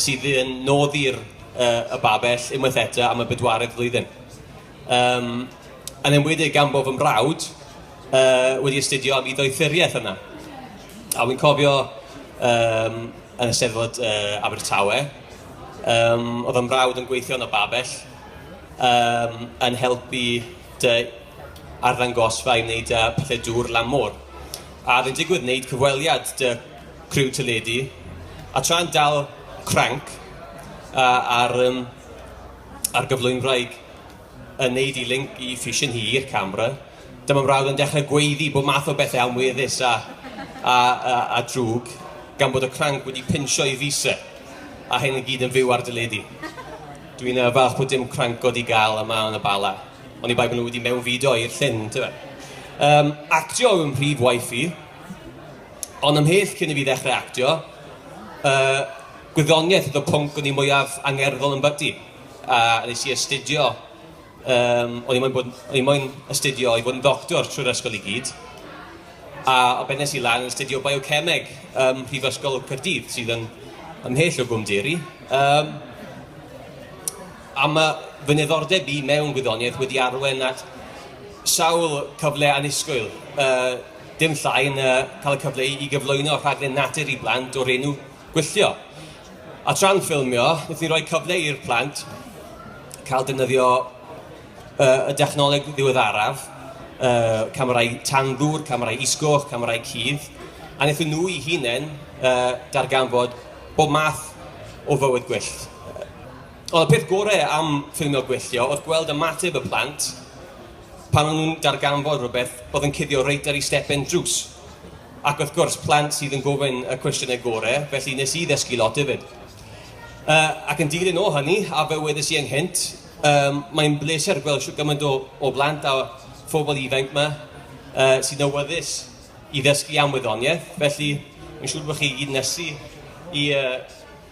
sydd yn nodi'r uh, y babell unwaith eto am y bedwaredd flwyddyn. Um, yn enwedig gan bod fy mrawd uh, wedi astudio am iddoethuriaeth yna. A wy'n cofio um, yn y Steddfod uh, Abertawe, um, oedd yn mrawd yn gweithio yn y babell, um, yn helpu dy arddangosfa i wneud uh, pethau dŵr lan môr. A oedd yn digwydd wneud cyfweliad dy criw teledu, a tra'n dal cranc a, ar, um, ar gyflwynwraig yn neud i link i ffisiwn hi i'r camera, dyma mrawd yn dechrau gweiddi bod math o bethau amweddus a, a, a, a drwg, gan bod y cranc wedi pinsio i fisa, a hyn yn gyd yn fyw ar dyledu. Dwi'n uh, falch bod dim cranc god i gael yma yn y bala, ond i bai bod nhw wedi mewnfudo i'r llyn, tyfa. Um, actio yw'n prif waith i, Ond ymhell cyn i fi ddechrau actio, yy, gwyddoniaeth oedd y pwnc o'n i mwyaf angerddol yn byti. A nes i astudio, um, o'n i moyn, bod, o'n i moyn astudio i fod yn ddoctor trwy'r ysgol i gyd. A o beth nes i lan yn astudio biocemeg ym Mhrifysgol Cyrdydd, sydd yn ymhell o Gwm Deri. Um, a mae fy niddordeb i mewn gwyddoniaeth wedi arwen at sawl cyfle anusgwyl, uh, Dim llai na cael y cyfle i gyflwyno rhaglen natur i blant o'r enw Gwylltio. A tra'n ffilmio, wnaethon ni roi cyfle i'r plant cael defnyddio uh, y dechnoleg ddiweddaraf, uh, camerau tanddŵr, camerau isgoch, camerau cudd, a wnaethon nhw i hunain uh, darganfod bob math o fywyd gwyllt. Ond y peth gorau am ffilmio gwylltio oedd gweld ymateb y plant pan o'n nhw'n darganfod rhywbeth oedd yn cuddio reit ar ei stepen drws. Ac wrth gwrs, plant sydd yn gofyn y cwestiynau gore, felly nes i ddysgu lot hefyd. Uh, ac yn dilyn o hynny, a fe wedes i ynghynt, um, mae'n bleser gweld siw gymaint o, o blant a phobl ifanc yma uh, sy'n awyddus i ddysgu am wyddoniaeth. Felly, mae'n siŵr bod chi gyd nesu i uh,